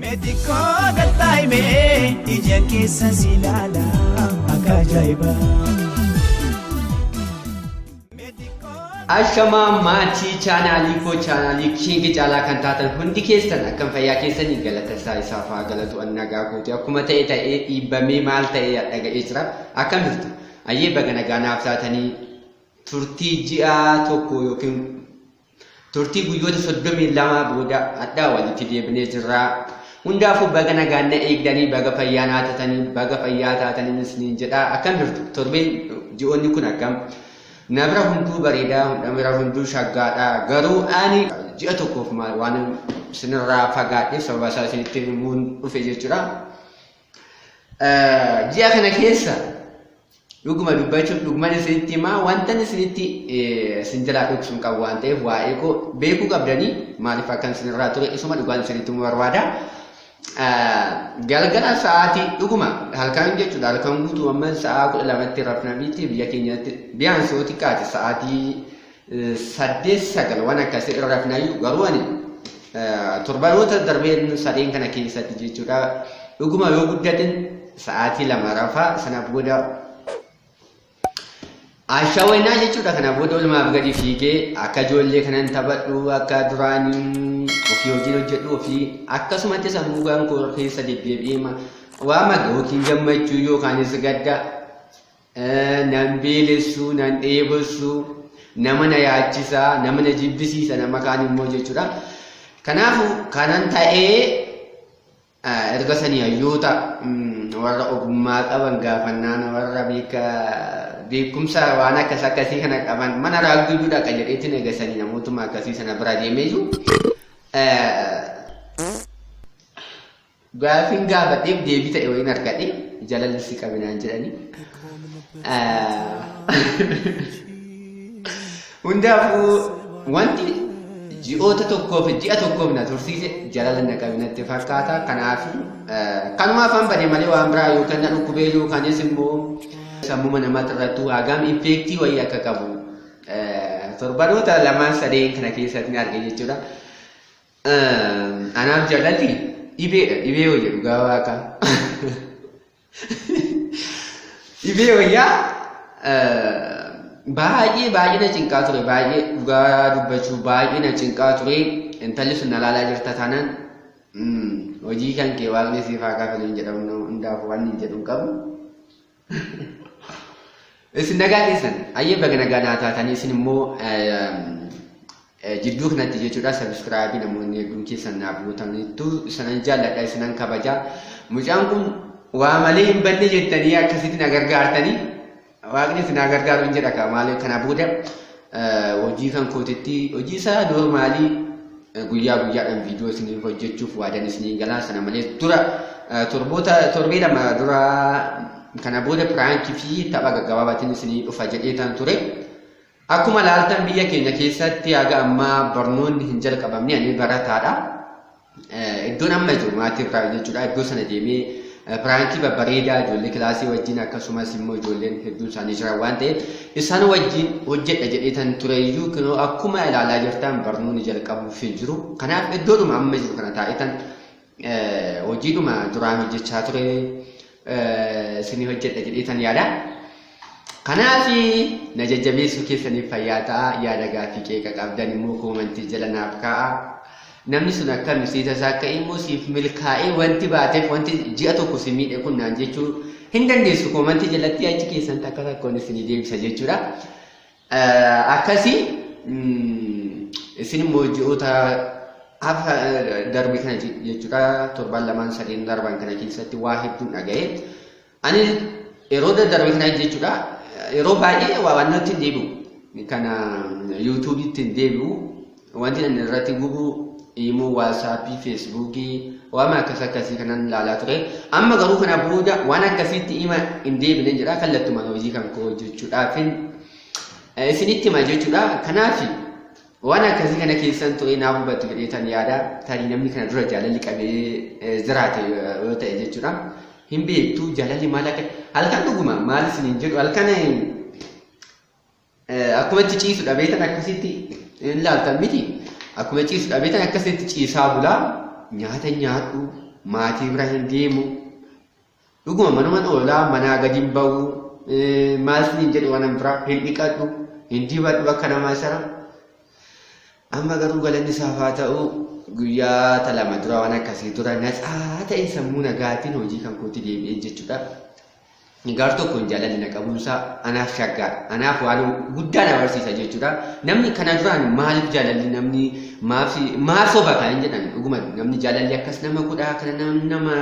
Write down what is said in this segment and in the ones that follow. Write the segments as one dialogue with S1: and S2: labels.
S1: Meti koo galtaa'ime ija keessa si ilaala
S2: akka ajaa'iba. Ashamaa maatii chaanaalii koo chaanaalii kiingi caalaa kan taatan hundi keessan akkam fayyaa keessanii galata isaa isaaf haa galatu annagaa guute akkuma ta'e ta'ee dhiibbamee maal ta'ee dhaga'ee jira akkam jirtu ayyee baga nagaa naaf taatanii turtii ji'aa tokko yookiin Turtii guyyoota soddomii lamaa booda hadhaa walitti deebinee jirra. Hundaafuu baga nagaan na eegdanii baga fayyaa naa taatanii baga fayyaa taatanii isiniin jedha. Akkam jirtu? Torbeen ji'oonni kun akkam? Na bira hunduu bareedaa, hunda bira hunduu shaggaadha. Garuu ani ji'a tokkoof waan isinirraa fagaadheef sababa isaa isinitti himuun dhufe jechuudha. Ji'a kana keessa dhuguma dubbachuuf dhuguman isinitti himaa wantan isinitti isin jalaa dhoksu hin qabu waan ta'eef waa'ee koo beekuu qabdanii maaliif akkan isinirraa ture isuma dhugaan isinitti himuu barbaada. Galgala sa'aatii dhuguma halkan jechuudha halkan guutuu amma sa'aa kudha lamatti rafnamitti biyya keenyatti biyaan sootii kaate sa'aatii saddeet sagal waan akkasii irra rafnaayyuu garuu ani torbanoota darbeen sadeen kana keessatti jechuudha dhuguma yoo guddatin sa'aatii lama rafaa sana booda ashaweenaa jechuudha kana booda olumaaf gadi fiigee akka ijoollee kanan taphadhu akka duraanii ofii hojiin hojjedhu ofii akkasumatti sammuu kan koo keessa deddeebi'ee waama yookiin gammachuu yookaanis gadda nan beelessu, nan dheebossu, nama na yaachisa, nama na jibbisiisa, nama kaan immoo jechuudha. Kanaafuu kanan ta'ee erga sanii hayyoota warra ogummaa qaban gaafannaan warra beekumsa waan akkas akkasii kana qaban mana raagduu dhaqa jedheetti nagasanii namootuma akkasii sana bira deemee jiru. Gaafin gaafadheef deebii ta'e wayiin argadhe jalalli si qabe naan jedhani. Hundaafuu wanti ji'oota tokkoof ji'a tokkoof na tursiise jalala na qabe natti fakkaata. Kanaaf kanuma afaan badee malee waan biraa yookaan na dhukkubee yookaanis immoo sammuma namaatti irratti hagam infeektii wayii akka qabu torbanoota lamaan sadeen kana keessatti ni arge jechuudha. Anaaf jaallalti dhibeedha dhibee wayya dhugaa waaqaa. Dhibee wayyaa baay'ee baay'ee na cinqaa ture baay'ee dhugaa dubbachuu baay'ee na cinqaa ture intalli sun na laalaa jirta taanaan hojii kan kee waaqni siif haa kafalu hin jedhamu hundaaf waan hin jedhu hin qabu. Isin nagaa keessan ayyee baga nagaa naa taatanii isin immoo jidduu kanatti jechuudha sabiskiraabii namoonni hedduun keessan naaf gootaniittu isanan jaalladha isinan kabaja mucaan kun waa malee hin banne jettanii akkasitti na gargaartanii waaqni isin na gargaaru hin jedha kaa maaliif kana booda hojii kan kootitti hojii isaa noormaalii guyyaa guyyaadhaan viidiyoo isiniif hojjechuuf waadan isiniin galaa sana malees dura torboota torbee lama dura kana booda piraankii fi tapha gaggabaabaatiin isinii dhufa jedhee tan ture. Akkuma laaltan biyya keenya keessatti haga ammaa barnoonni hin jalqabamne ani barataadha. Iddoon amma jiru maatii irraa jechuudha. Iddoo sana deemee piraankii babbareedaa ijoollee kilaasii wajjin akkasumas immoo ijoolleen hedduun isaanii jiran waan ta'eef isaan wajjin hojjedha jedheetan ture iyyuu kunoo akkuma ilaalaa jirtan barnoonni jalqabuuf hin jiru. Kanaaf iddoodhuma amma jiru kana taa'etan hojiidhuma duraan hojjechaa ture isinii hojjedha jedheetan yaada. Kanaaf na jajjabeessuu keessaniif fayyaa ta'a yaada gaaffii qeeqa qabdan immoo koomantii jala naaf kaa'a. Namni sun akka nusiisa isaa akka immoo siif milkaa'ee wanti baateef wanti ji'a tokko si miidhe kun naan jechuu hin dandeessu koomantii jalatti achi keessan takka takkoon isinii deebisa jechuudha. Akkasi isin immoo ji'oota hafa darbe kana jechuudha torban lamaan sadeen darban kana keessatti waa hedduun dhaga'e. Ani yeroo darbe kana jechuudha yeroo baay'ee waa waan natti deebi'u kana yuutuubiitti deebi'u Wanti ani irratti gubu imoo waasaappii feesbuukii waama akkas akkasii kanan ilaalaa ture amma garuu kana booda waan akkasiitti ima hin deebine jedha kallattumaan hojii kan koo hojjechuudhaafin isinitti hima jechuudha kanaaf waan akkasii kana keessan turee naaf hubatu jedheetan yaada tarii namni kana dura jaalalli qabee jiraate yoo ta'e jechuudha hin beektu jaalalli maal akka halkan dhuguma maal isiniin jedhu halkan Akkuma itti ciisu dhabeetan akkasitti hin laaltan miti. Akkuma ciisu dhabeetan akkasitti ciisaa bulaa nyaata nyaadhu maatii bira hin deemu. Dhuguma manuman oolaa manaa gadi hin ba'u maaltu hin jedhu waan biraa hin dhiqadhu hin dibadhu akka namaa sana. Amma garuu galanni isaaf haa ta'u guyyaa talama dura waan akkasii dura natsaa ta'e sammuu nagaatiin hojii kan kootti deebi'een jechuudha. Ani gaar tokko hin jaalanne na qabuunsaa anaaf shaggaadha. Anaaf waan guddaa na barsiisa jechuudha. Namni kana duraan maaliif jaalalli namni maaf maaf soba kan hin jedhan dhuguma namni jaalalli akkas nama godhaa kana nama nama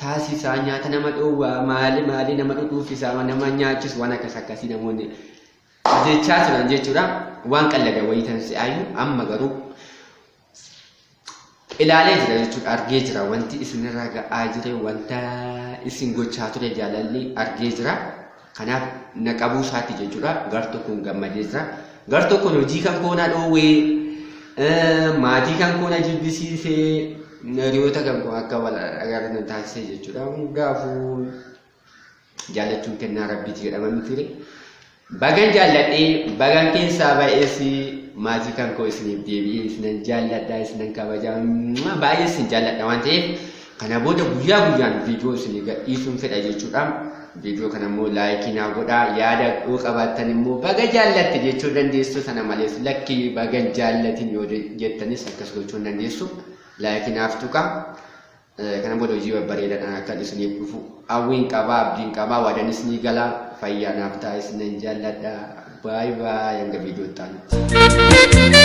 S2: taasisaa nyaata nama dhoowwaa maali maali nama dhudhuuffisaa nama nyaachisu waan akkas akkasii namoonni jechaa turan jechuudha. Waan qallaga wayii tan si'aayu amma garuu ilaalee jira jechuudha argee jira wanti isinirra ga'aa jire wanta isin gochaa ture jaalalli argee jira kanaaf na qabuu isaati jechuudha gar tokkoon gammadee jira gar tokkoon hojii kan koona dhoowwee maatii kan koona jibbisiisee hiriyoota kan koo akka wal agarre taasisee jechuudha hundaafuu Jaallachuun kennaa rabbiiti jedhama mitire. Bagan jaalladhee bagan keessaa baay'eessi maatii kan koo isiniif deebi'ee isinan jaalladha isinan kabaja baay'ee isin jaalladha waan ta'eef kana booda guyyaa guyyaan viidiyoo isinii gadhiisuun fedha jechuudha. Viidiyoo kana immoo laayikii naa godhaa yaada yoo qabaattan immoo baga jaallatte jechuu dandeessu sana malees lakkii bagan jaallatin yoo jettanis akkas gochuu dandeessu laayikii naaf tuqa. Kana booda hojii babbareedaadhaan akkan isiniif dhufu hawwiin qabaa abdiin qabaa waadanis ni galaa fayyaa naaf ta'a isinan jaalladha baay baay hanga viidiyoo ta'anitti.